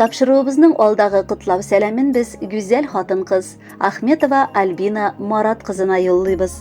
Тапшыруыбызның алдагы котлау сәламен без гүзәл хатын-кыз Ахметова Альбина Марат кызына юллыйбыз.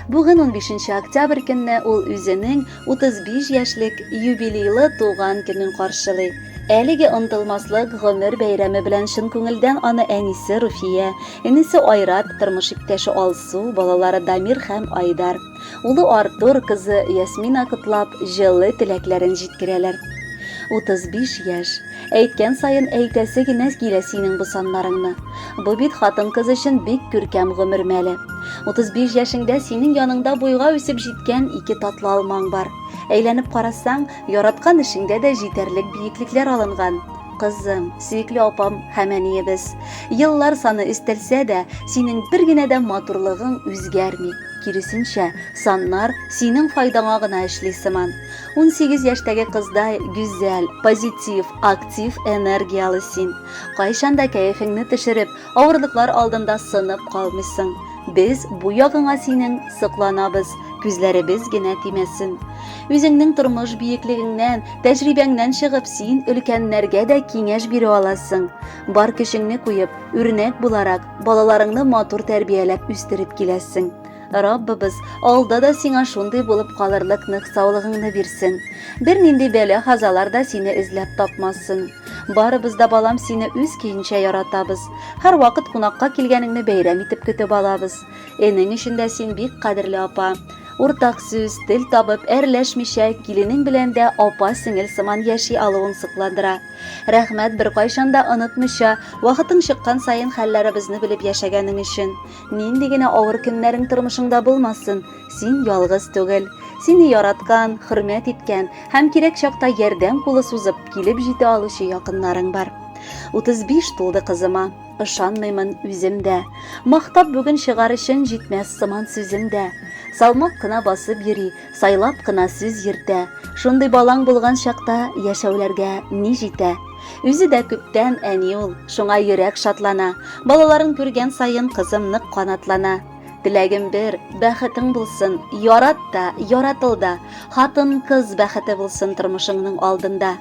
Бүген 15 октябрь көнне ул үзенең 35 яшьлек юбилейлы туган көнен каршылый. Әлеге онтылмаслык гомер бәйрәме белән чын күңелдән аны әнисе Руфия, энесе Айрат, тормыш иптәше Алсу, балалары Дамир һәм Айдар, Улы Артур, кызы Ясмина котлап, җылы теләкләрен җиткерәләр. 35 яшь. Әйткән саен әйтәсе генә килә синең бу саннарыңны. Бу бит хатын-кыз өчен бик күркәм гомер мәле. 35 яшеңдә синең яныңда буйга үсеп җиткән ике татлы алмаң бар. Әйләнеп карасаң, яраткан эшеңдә дә җитәрлек биеклекләр алынган. Кызым, сөекле апам һәм әниебез. Еллар саны өстәлсә дә, синең бер генә дә матурлыгың үзгәрми. Киресенчә, саннар синең файдаңа гына эшли сыман. Унсигез яшьтәге кыздай гүзәл, позитив, актив, энергияле син. Кайчан да кәефеңне төшереп, авырлыклар алдында сынып калмыйсың. Без бу ягыңа синең сокланабыз, күзләребез генә тимәсен. Үзеңнең тормыш биеклегеңнән, тәҗрибәңнән чыгып, син өлкәннәргә дә киңәш бирә аласың. Бар көчеңне куеп, үрнәк буларак, Балаларыңны матур тәрбияләп үстереп киләсең. Раббыбыз алда да сиңа шундый булып калырлык нык саулыгыңны бирсен. Бернинди бәла хазалар да сине эзләп тапмасын. Барыбыз да балам сине үз көенчә яратабыз. Һәр вакыт кунакка килгәнеңне бәйрәм итеп көтеп алабыз. Энең өчен дә син бик кадерле апа. Уртак сүз, тел табып, әрләшмичә, киленең белән дә апа-сеңел сыман яши алуың сокландыра. Рәхмәт беркайчан да онытмыйча, вакытың чыккан саен хәлләребезне белеп яшәгәнең өчен. Нинди генә авыр көннәрең тормышыңда булмасын, син ялгыз түгел. Сине яраткан, хөрмәт иткән һәм кирәк чакта ярдәм кулы сузып, килеп җитә алучы якыннарың бар. 35 тулды кызыма. Ышанмыймын үзем дә. Мактап бүген чыгар өчен җитмәс сыман сүзем дә. Салмак кына басып йөри, Сайлап кына сүз йөртә. Шундый балаң булган чакта яшәүләргә ни җитә? Үзе дә күптән әни ул, шуңа йөрәк шатлана. Балаларын күргән саен кызым нык канатлана. Теләгем бер, бәхетең булсын, ярат та, яратыл да. Хатын, кыз бәхете булсын тормышыңның алдында.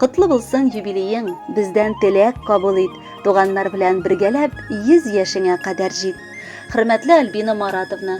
Котлы булсын юбилеең, бездән теләк кабул ит. Туганнар белән бергәләп 100 яшеңә кадәр җит. Хөрмәтле Альбина Маратовна,